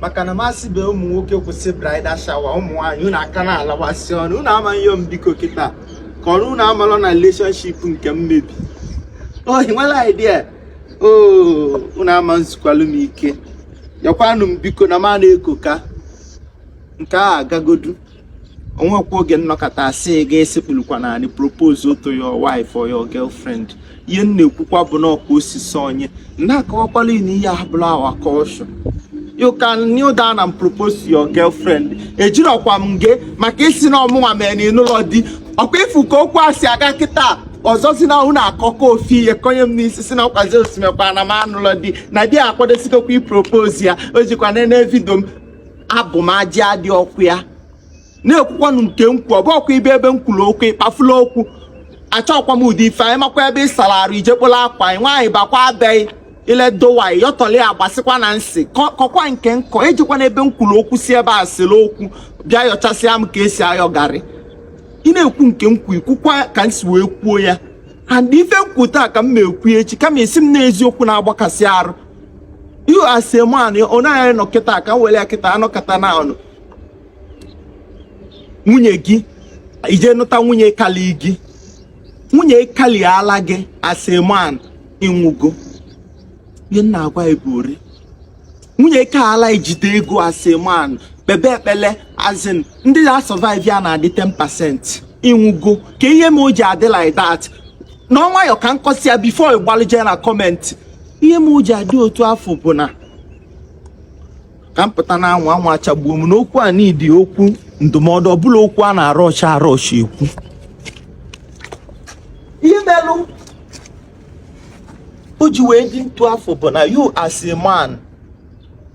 maka na m asị be ụmụ nwoke kwụsị bridal shower ụmụ nwaanyị unu aka na-alawasị ọnụ unu amaghị ihe m biko kịta ka ọrụ unu amalọ na relationship nke m mebi o nwere idea oh unu ama nzukwalụ m ike yakwanụ m biko na m na-ekoka nke a agagodu o nwekwa oge m nọkata asị gị esekpulukwa n'anị propose to your wife or your girlfriend ihe m na-ekwukwa bụ na ọkwa osisi onye na-akọwakwala na ihe abụlọ our culture you can kneel down and propose to your girlfriend ejirọkwa m gị maka ị sị na ọ mụnwa mere na ị nụlọ di ọkwa ị fụ ka okwu a si aga kịta ọzọ si na unu akọkọ ofe ihe konye m n'isi sị na nkwazi o si mekwa na m anụlọ di na di akwadosikokwa ipropose ya o jikwa nene video m abụ m ajị adị ọkụ ya na-ekwukwanụ nke m kwuo bụ ọkwa ibe ebe m kwuru okwu ịkpafula okwu achọkwa m ụdị ife a ị makwa ebe ị sara arụ i je kpola akwa gị nwaanyị bakwa abịaghị iledowaanyị yọtọli agbasịkwa na m sị kọ- kọkwa nke m kọ ejikwana ebe m kwuru okwu si ebe a sịrị okwu bịa yọchasịa m ka esi ayọ garri ị na-ekwu nke m kwu i kwukwa ka m si wee kwuo ya and ife m kwu taa ka m ma ekwu echi kama asị m na eziokwu na-agbakasị arụ you as a man onye anyị nọ kịta ka m were ya kịta a nọkata na-anụ nwunye gị eje nụta nwunye kalị gị nwunye kalịala gị as a man ị nwụgo ihe m na-agwa gị bụrị nwunye kalịala ijide ego as a man kpebe ekpele as in ndị na-asurvive ya na-adị 10% ị nwụgo kee ihe me o ji adị like that nọ nwayọ ka m kọsịa ya before ị gbalụ je na comment ihe me o ji adị otu afụ bụ na ka m pụta na anwụ anwụ achagbuo m n'okwu a n'idi okwu ndụmọdụ ọbụla okwu a na-arọcha arọcha ekwu ihe melụ o ji wee dị etu afụ bụ na you as a man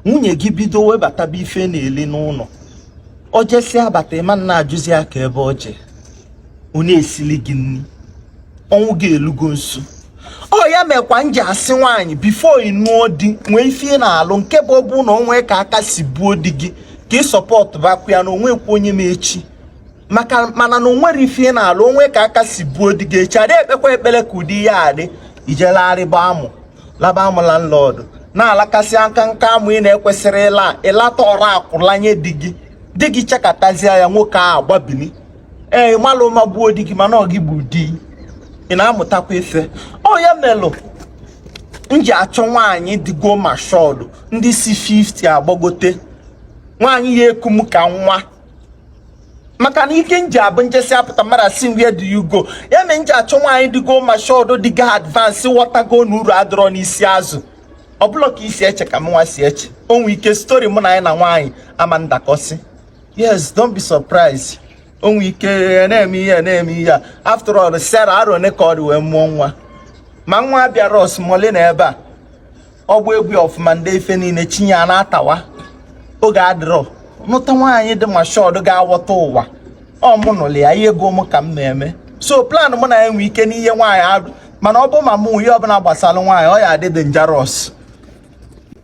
nwunye gị bido webataba ife na-eli n'ụnọ o jesịa bata ị ma na-ajụzi ya kee ebe o jee onye esili gị nri ọnwụ gị elugo nso ọ ya mekwa m ji asị nwaanyị before ị nụọ di nwee ife ị na-alụ nke bụ ọ bụ na o nwe ka aka si buo di gị ka ị supportụbakwa ya na o nwekwa onye ma echi maka mana na o nwere ife ị na-alụ o nwe ka aka si buo di gị echi adị ekpekwa ekpere ka ụdị ya adị i je larịba amụ laba amụ landlord na-alakasị aka nka amụ ị na-ekwesịrị ịla ịlata ọrụ akwụlanye di gị di gị chekatazie ya nwoke ahụ gbabili ee ịmalụ ụma gbuo di gị mana ọ gị bụ di ị na-amụtakwa ife ọ ya melụ m ji achọ nwaanyị dịgo matured ndị si 50 agbagote nwaanyị ya-eku m ka nwa maka na ike nji abụ njesi apụta mmadụ asị where do you go ya mere m ji achọ nwaanyị dịgo matured dịgo advanced ghọtago na uru adịrọ n'isi azụ ọ bụrọ ka i si eche ka mụnwa si eche o nwee ike story mụ na anyị na nwaanyị ama ndakọsị yes don't be surprised o nwee ike ya na-eme ihe na-eme ihe a after all Sarah arọ one ka ọ dị wee mụọ nwa ma nwa bịara osmole na ebe a ọ bụ egwu ọfụma ndị ife niile chinye a na-atawa oge adịrọ nụta nwaanyị dị matured ga-awọta ụwa ọ mụ nụlụ ya ihe ego m ka m na-eme so plan mụ na ya nwee ike n'ihe nwaanyị arụ mana ọ bụ ma mụ ihe ọbụla gbasara nwaanyị ọ ya adị dangerous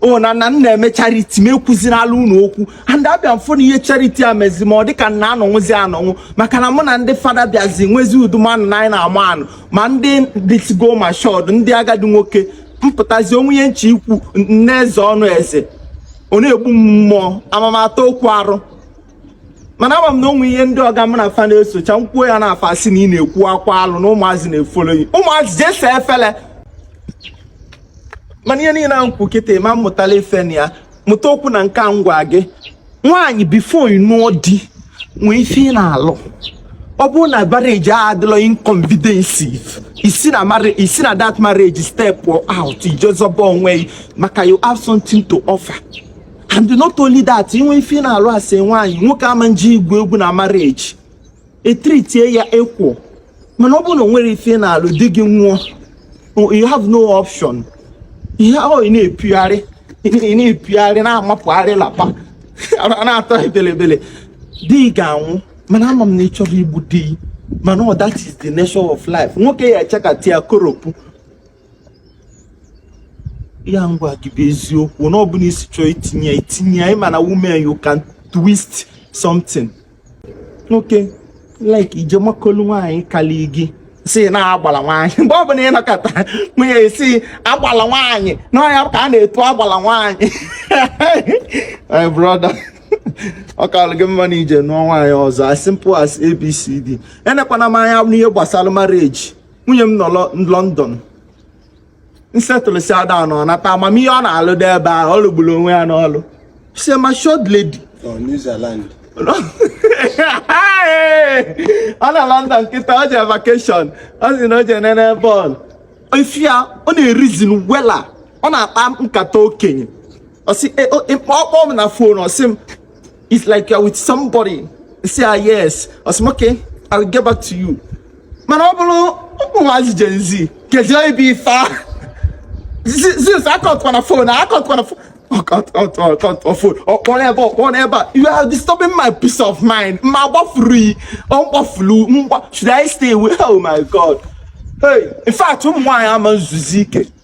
ọ na na m na-eme charity m ekwuzina ala ụlọ okwu and abịa m fụ na ihe charity a mezi ma ọ dịka m na-anọnwụzi anọnwụ maka na mụ na ndị fada bịazi nwezi udumanụ na anyị na-ama anụ ma ndị dịtụgo matured ndị agadi nwoke m pụtazi o nwee ihe m che ikwu nne eze ọnụ eze ọ na-egbu m mmụọ amamata okwu arụ mana ama m na o nwee ihe ndị ọga m na afa na-esocha m kwuo ya na afa si na ị na-ekwukwa alụ na ụmụazị na-efolo gị ụmụazị je saa efele mana ihe niile ahụ kwu kịta ị ma mụtala ife na ya mụtakwuo na nke a m gwa gị nwaanyị before ị nụọ di nwee ife ị na-alụ ọ bụrụ na marriage a adịrọ inconvidensive i si na marri- i si na that marriage step out i je zọba onwe gị maka you have something to offer and not only that i nwee ife ị na-alụ as nwaanyị nwoke ama nje igwu egwu na marriage e tritie ya equal mana ọ bụrụ na o nwerọ ife ị na-alụ di gị nwụọ you have no option ihe ọ ị na-epigharị ị na-epigharị na-amapụgharị lapa na-atọ ebelebele di ga-anwụ mana ama m na ị chọrọ igbu di mana ọ that is the nature of life nwoke ya-echekatia koropụ ya m gwa gị bụ eziokwu na ọ bụla i si chọọ itinye itinye ya ị ma na women you can twist something nwoke like i je makolu nwaanyị kalị gị sị na agbala nwaanyị mgbe ọbụla ị nọkata nwunye e sị agbala nwaanyị na ọ nya ka a na-etu agbala nwaanyị my brother ọ kalụ gị mma na i je nụọ nwaanyị ọzọ as simple as abcd enekwana m anya n'ihe gbasala marriage nwunye m nọ London nsetụlụsị ada na ọ na-akpa amamihe ọ na-alụ dị ebe ahụ ọ lụgburu onwe ya n'ọlụ sị matured lady ọ nọ London kịta o je vacation ọ sị na o je nene bọọlụ efi ya ọ na-erizin wela ọ na-akpa nkata okenye ọ sị ọ kpọ m na fon ọ sị m It's like you're with somebody. Say, ah, yes. Or some, okay, I will get back to you. Mana ọ bụrụ ụmụ nwaanyị Gen Z kedu ebe ife a since a kpọtụkwa na fon a kpọtụkwa na fon ọ kpọrọ ebe ọ kpọrọ ebe a you are disturbing my peace of mind ma gbafuru yi ọ gbafuru mgba should I stay away oh my god hey in fact ụmụ nwaanyị ama nzuzu ike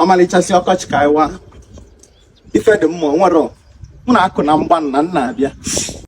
ọmalịchasị ọkọchị ka ịwa ife dị mma nwere mụ na-akụ na mgba na nna abịa